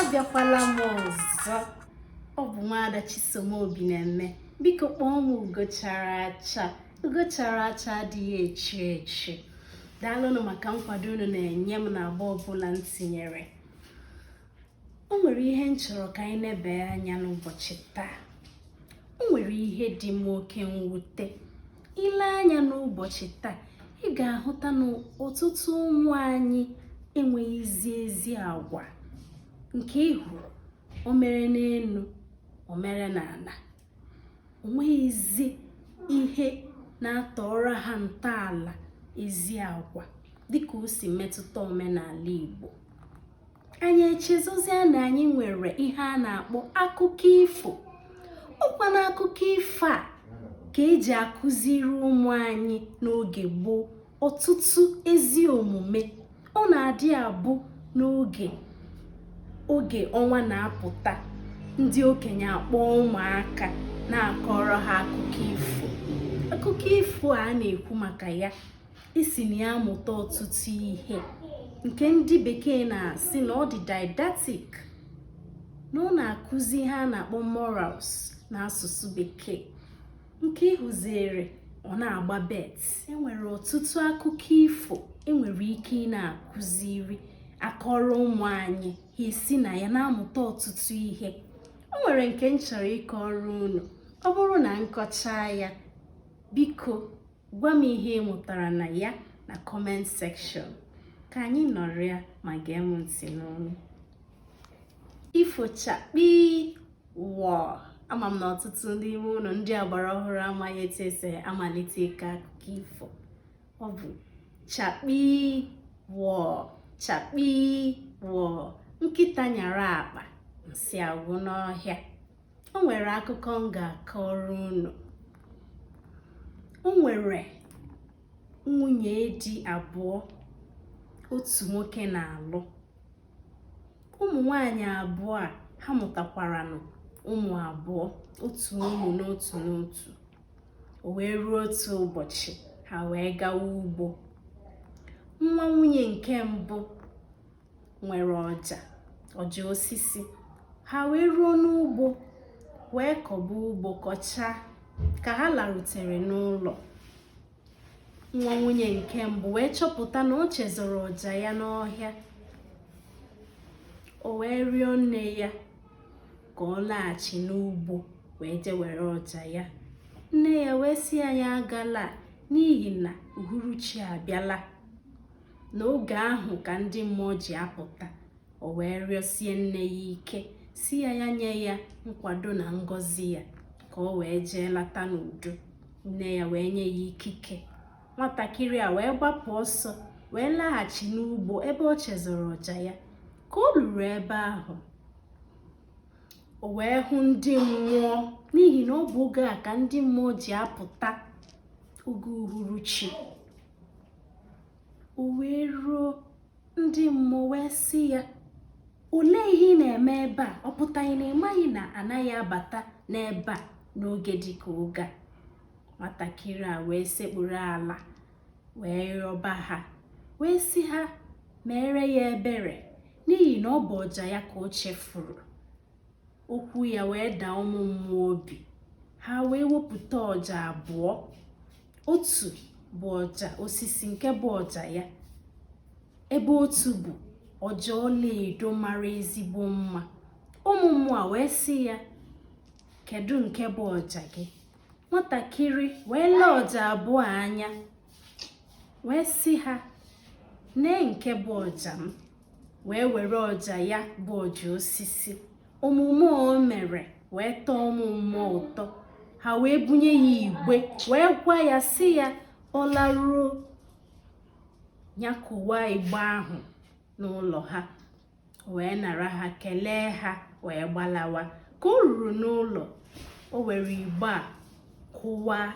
abịakwala m ọzọ ọ bụ nwaada Chisom Obineme biko kpọọ m ugo chara acha ugo chara acha adịghị echu echu daalụnụ maka nkwado unu na-enye m na agba ọbụla m tinyere o nwere ihe m chọrọ ka anyị nebe anya n'ụbọchị taa o nwere ihe dị m oke mwute i lee anya n'ụbọchị taa ị ga-ahụta na ọtụtụ ụmụ anyị enweghịzi ezi agwa nke ị hụrụ o mere n'elu o mere n'ala o nweghịzi ihe na-atọrọ ha ntọala ezi agwa dịka o si metụta omenala Igbo anyị echezọzia na anyị nwere ihe a na-akpọ akụkọ ifo ọkwa na akụkọ ifo a ka eji akụziri ụmụ anyị n'oge gboo ọtụtụ ezi omume ọ na-adị abụ n'oge ọnwa na-apụta ndị okenye akpọọ ụmụaka na-akọrọ ha akụkọ ifo akụkọ ifo a na-ekwu maka ya e si na ya amụta ọtụtụ ihe nke ndị bekee na-asị na ọ dị didactic na ọ na-akụzi ihe a na-akpọ morals na asụsụ bekee nke ị hụziere ọ na-agba bet enwere ọtụtụ akụkọ ifo enwere ike ị na-akụziri akọrọ ụmụ anyị ha esi na ya na-amụta ọtụtụ ihe o nwere nke m chọrọ ịkọrọ unu ọ bụrụ na m kọchaa ya biko Gwa m ihe ị mụtara na ya na comment section. Ka anyị nọrịa ma gee m ntị n'ọnụ. Ifo chakpi wọ ama m na ọtụtụ n'ime unu ndị agbara ọhụrụ amaghị etu esi amalite ịkọ akụkọ ifo. Ọ bụ chakpi wọ chakpi wọ nkịta nyara akpa nsị agwụ n'ọhịa. o nwere akụkọ m ga-akọrọ unu o nwere nwunye di abụọ otu nwoke na-alụ ụmụ nwanyị abụọ a ha mụtakwaranụ ụmụ abụọ otu ụmụ n'otu n'otu o wee ruo otu ụbọchị ha wee gawa ugbo nwa nwunye nke mbụ nwere ọja ọja osisi ha wee ruo n'ugbo wee kọba ugbo kọchaa ka ha larutere n'ụlọ nwa nwunye nke mbụ wee chọpụta na o chezọrọ ọja ya n'ọhịa o wee rịọ nne ya ka ọ laghachi n'ugbo wee jee were ọja ya nne ya wee sị ya ya agala n'ihi na uhuruchi abịala n'oge ahụ ka ndị mmụọ ji apụta o wee rịọsie nne ya ike sị ya ya nye ya nkwado na ngọzi ya ka o wee jee lata n'udo nne ya wee nye ya ikike nwatakịrị a wee gbapụ ọsọ wee laghachi n'ugbo ebe o chezọrọ ọja ya ka o luru ebe ahụ o wee hụ ndị mmụọ n'ihi na ọ bụ oge a ka ndị mmụọ ji apụta oge uhuruchi o wee ruo ndị mmụọ wee sị ya olee ihe ị na-eme ebe a ọ pụtaghị na ị maghị na a naghị abata n'ebe a n'oge dịka oge a nwatakịrị a wee sekpuru ala wee rịọba ha wee sị ha meere ya ebere n'ihi na ọ bụ ọja ya ka o chefuru Okwu ya wee daa ụmụ mmụọ obi, ha wee wepụta ọja abụọ. Otu bụ ọja osisi nke bụ ọja ya, ebe otu bụ ọja ọlaedo mara ezigbo mma. Ụmụ mmụọ wee sị ya, kedu nke bụ ọja gị? Nwatakịrị wee lee ọja abụọ anya wee sị ha, nee nke bụ ọja m. wee were ọja ya bụ ọja osisi omume o mere wee tọọ ụmụ mmụọ ụtọ ha wee bunye ya igbe wee gwa ya sị ya ọ laruo ya kụwaa igbe ahụ n'ụlọ ha wee nara ha kelee ha wee gbalawa ka o ruru n'ụlọ o were igbe a kụwaa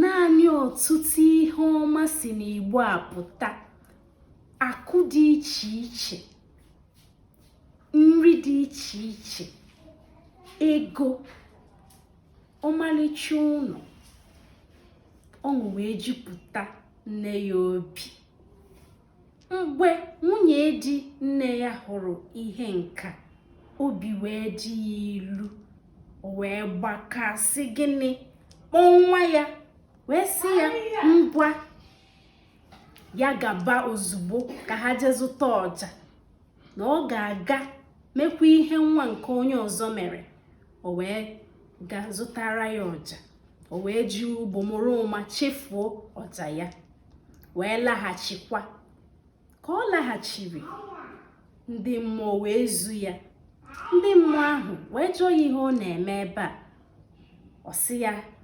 naanị ọtụtụ ihe ọma si n'igbe a pụta akụ dị iche iche nri dị iche iche ego ọmalịcha ụlọ ọṅụ wee jupụta nne ya obi mgbe nwunye di nne ya hụrụ ihe nka obi wee dị ya ilu wee gbakasị gịnị kpọọ nwa ya wee sị ya ngwa ya gaba ozugbo ka ha jee zụta ọja na ọ ga-aga mekwa ihe nwa nke onye ọzọ mere o wee ga zụtara ya ọja o wee jee ugbo mara ụma chefuo ọja ya wee laghachikwa ka ọ laghachiri ndị mmụọ wee zu ya ndị mmụọ ahụ wee jụọ ya ihe ọ na-eme ebe a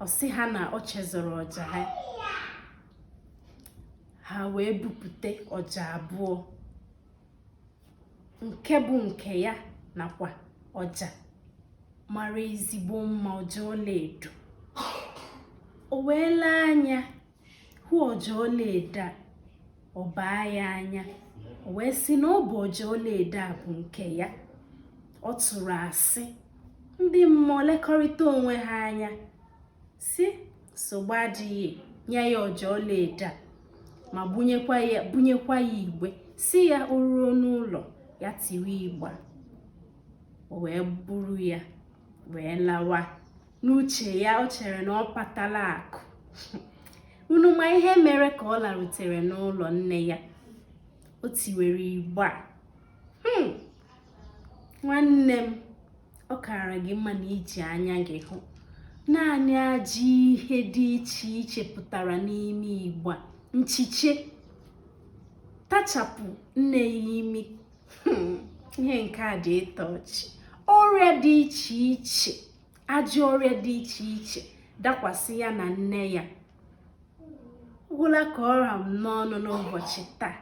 ọ sị ha na ọ chezọrọ ọja ha ha wee bupute ọja abụọ nke bụ nke ya nakwa ọja mara ezigbo mma ọja ọlaedo o wee lee anya hụ ọja ọlaedo a ọ baa ya anya o wee sị na ọ bụ ọja ọlaedo a bụ nke ya ọ tụrụ asị ndị mmụọ lekọrịta onwe ha anya sị nsogbu adịghị nye ya ọja ọlaedo a ma bunyekwa ya igbe sị ya o ruo n'ụlọ ya tiwe igbe a o wee buru ya wee lawa n'uche ya o chere na ọ patala akụ unu ma ihe mere ka ọ larutere n'ụlọ nne ya o tiwere igbe a hmm. nwanne m ọ kaara gị mma na i ji anya gị hụ naanị ajọ ihe dị iche iche pụtara n'ime igbe a nchiche tachapụ nne ya imi hmm, ihe nke a dị ịtọ ọchị ọrịa dị iche iche ajọ ọrịa dị iche iche dakwasị ya na nne ya gwụla ka ọ ra m n'ọnụ n'ụbọchị taa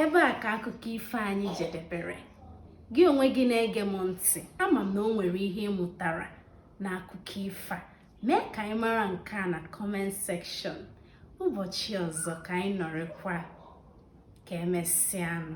ebe a ka akụkọ ifo anyị jedebere gị onwe gị na-ege m ntị ama m na o nwere ihe ị mụtara n'akụkọ ifo a mee ka anyị mara nke a na comment section ụbọchị ọzọ ka anyị nọrịkwa ka emesịanụ